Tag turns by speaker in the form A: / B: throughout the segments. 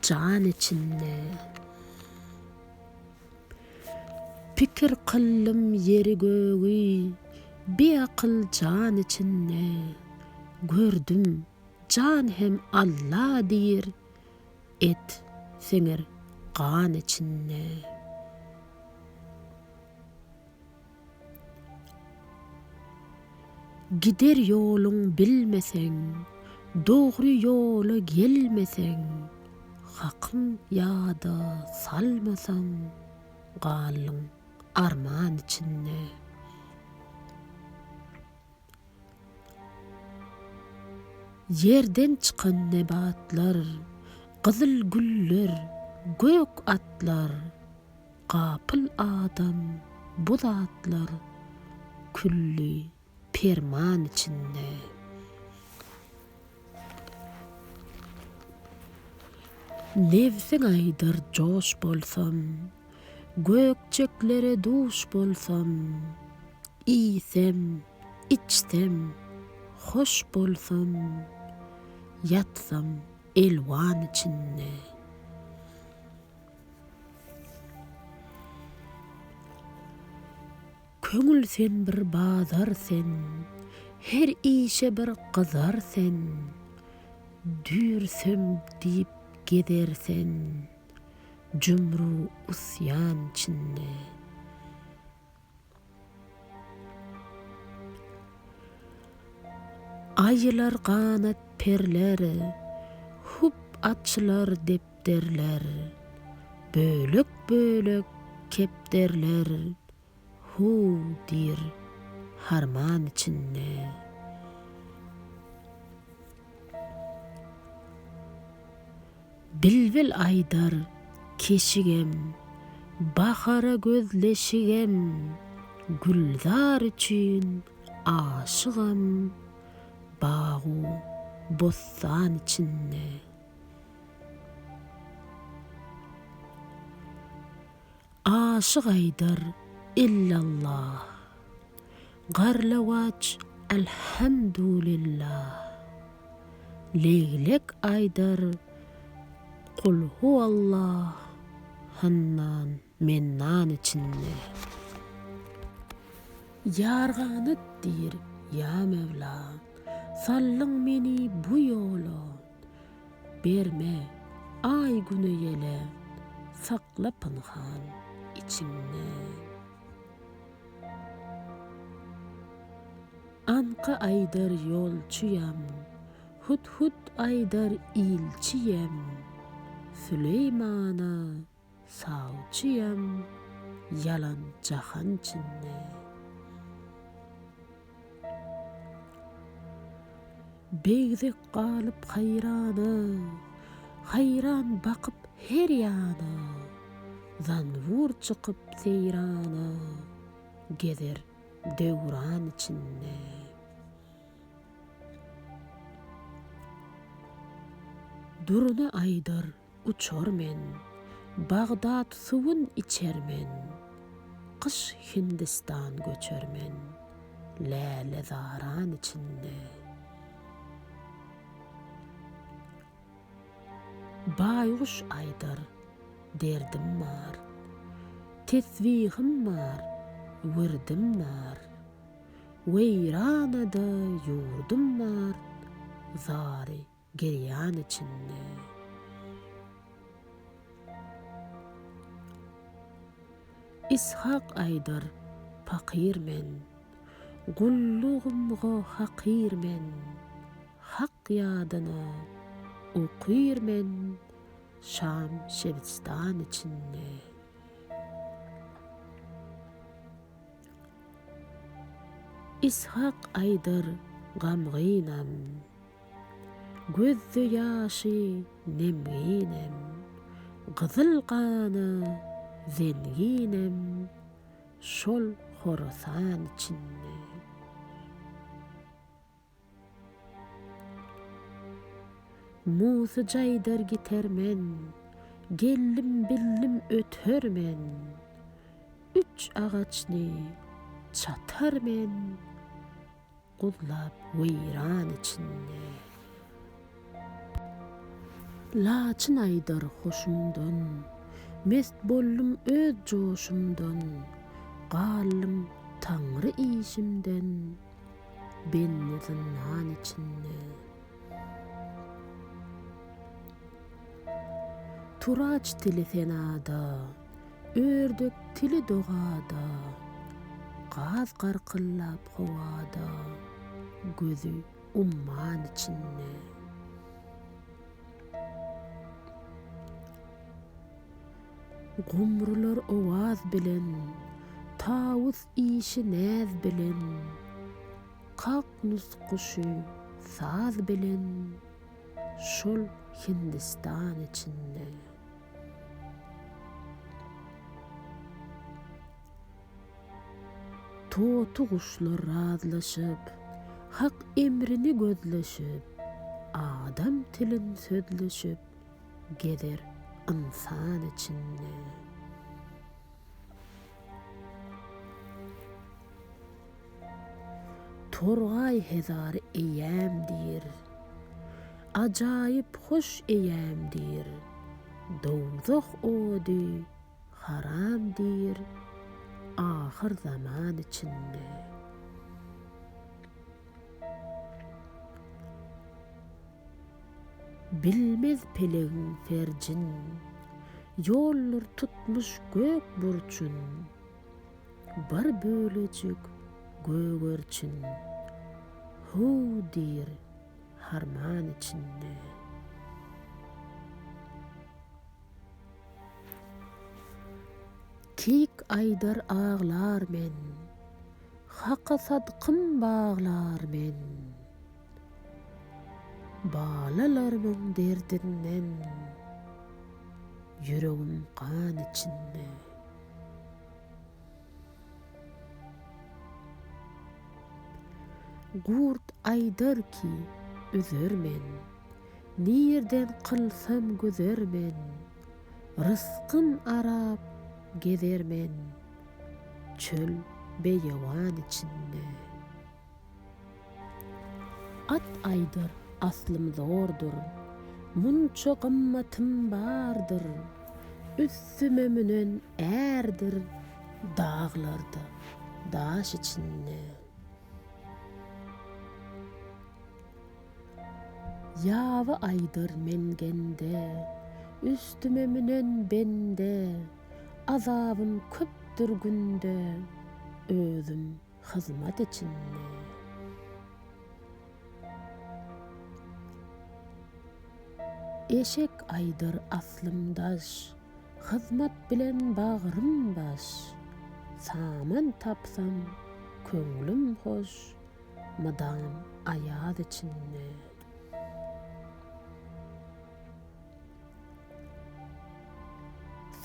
A: Jan içinde. Pikir kyldym ýeri-gögi, biakyl jan içinde. Gördüm, jan hem Alla diýr, et siňir gan içinde. Gider ýoluň bilmeseň, dogry ýola gelmeseň, Hakyň ýada salmasaň, galdyň arman içinde. Ýerden çykan nebatlar, gyzyl güller, gök atlar, gapyl adam, bu zatlar külli perman içinde. Nebsiň aýdar joş bolsam. Gökjeklere duş bolsam, iýsem, içsem, hoş bolsam, ýatsam elwan içinde. Köňül sen bir bazar sen, her işe bir gyzar sen, dürsem diýip gezer sen. Jümru usyan çinli. Aýylar ganat perler, Hub açylar depderler, Bölek-bölek kepderler, Huu diýr harman içinde. Bilbil aýdar keşigem, bahara gözleşigem, Gülzar üçin aşygam bagu bossan içinde. Aşyk aýdar, Illallah. Garlawaç, Elhamdulillah. Leglek aýdar, Kulhuwallah, Hannan, Mennan içinde. Ýar ganat diýr, Ýa Möwla. Saldyň meni bu ýola. Berme, aý güne ýele, sakla pynhan içiňden. Anka aýdar ýolçuýam, hut-hut aýdar ilçiýem, Süleýmana Sawçyam ýalan jahan içinde. Begdek galyp haýrana, Haýran bakyp her ýana, Zanbur çykyp seýrana, Gezer döwran içinde. Durna aýdar uçar men, Bagdat suwun içer men, Gyş Hindistan göçer men, Läle zaran içinde. Baýguş aýdar, derdim bar, Tesbihim bar, wirdim bar, Weýranada ýurdum bar, Zary Gerýan içinde. Ishak aýdar, pakyr men. Gullugymga hakyr men. Hak ýadyny okyr men Şam şebistan içinde. Ishak aýdar, gamgynam. Gözde ýaşy nemginem, gyzyl gana zenginem şol Horasan içinde. Musy jaýdar giter men, geldim bildim öter men, üç agaçny çatar men, Guzlap weýran içinde. Laçyn aýdar hoşumdan. Mest boldum öz joşumdan. Galdym taňry işimden. Benli zyndan içinde. Turaç dili senada. Ördek tili dogada, gaz garkyllap howada, gözi umman içinde. Gumrular owaz bilen, tawus işi näz bilen, kaknus guşy saz bilen, şol Hindistan içinde. Toty guşlar razlaşyp, Hak emrini gözleşip, Adam tilin sözleşip, Gezer ynsan içinde. Torgaý hezar eýäm diýr. Ajaýyp hoş eýäm diýr. Dowzah ody haram diýr ahyr zaman içinde. Bilmez pelegiň ferjin. Ýoldur tutmuş gök burçun. Bir bölejik gögerçin Höw diýr harman içinde. Kik aýdar aglar men, Haka sadkym baglar men. Balalarymyň derdinden Ýüregim gan içinde. Gurt aýdar ki, üzer men. Nirden kylsam gözer men. Rysgym arap gezer men. Çöl beýewan içinde. At aýdyr aslym zordur. Munça gymmatym bardyr. Üstüme münen ärdir daglarda, daş içinde. Ýaby aýdyr mengende. Üstüme münen bende. Azabym köpdür günde, özüm. hyzmat içinde. Eşek aýdyr aslym daş, hyzmat bilen bagrym baş, saman tapsam, köňlüm hoş, mydam aýaz içinde.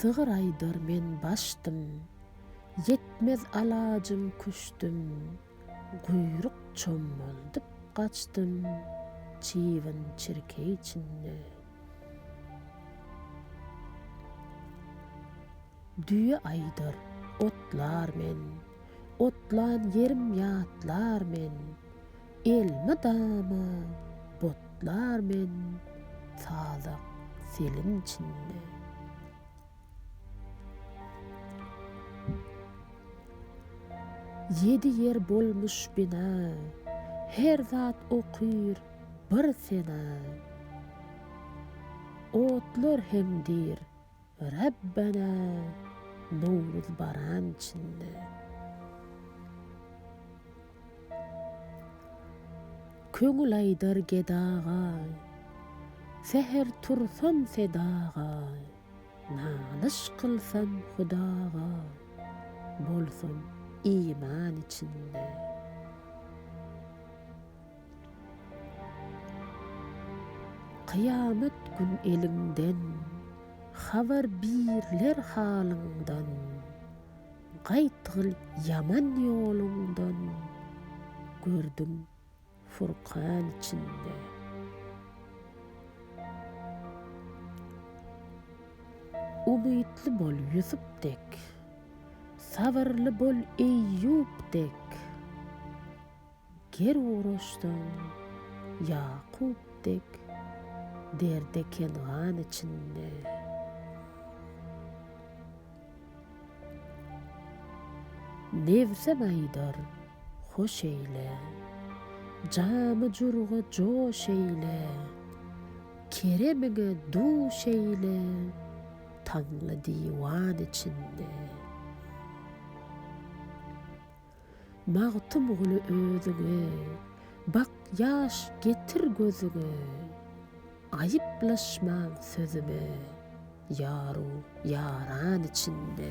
A: Sygyr aýdar men başdym. Ýetmez alajym küşdüm. Guýruk çommaldyp gaçdym. Çybyn çirkeý içinde. Düýe aýdar, otlar men. Otlan ýerim ýatlar men. Elmydama botlar men sazak seliň içinde. Ýedi ýer bolmuş bina, her zat okyr bir sena. Otlar heňdir, Rabbana Nowruz baran içinde Köňül aýdar gedaga Säher tursam sedaga Nalyş kylsam Hudaga Bolsam iman içinde. Kyýamat gün eliňden, Habar birler halyňdan, Gaýtgyl ýaman ýoluňdan, Gördüm Furkan içinde. Umytly bol Ýusup dek, Sabyrly bol Eýýup dek, Ger guraşsaň, Ýakup dek, derde Kengan içinde. Nebsem aýdar, Hoş eýle! Jamy-jurga joş eýle! Keremiňe duş eýle, Taňly diwan içinde. Magtymguly özüňe, bak ýaş getir gözüňe, Aýyplaşmaň sözüme, ýaru ýaran içinde.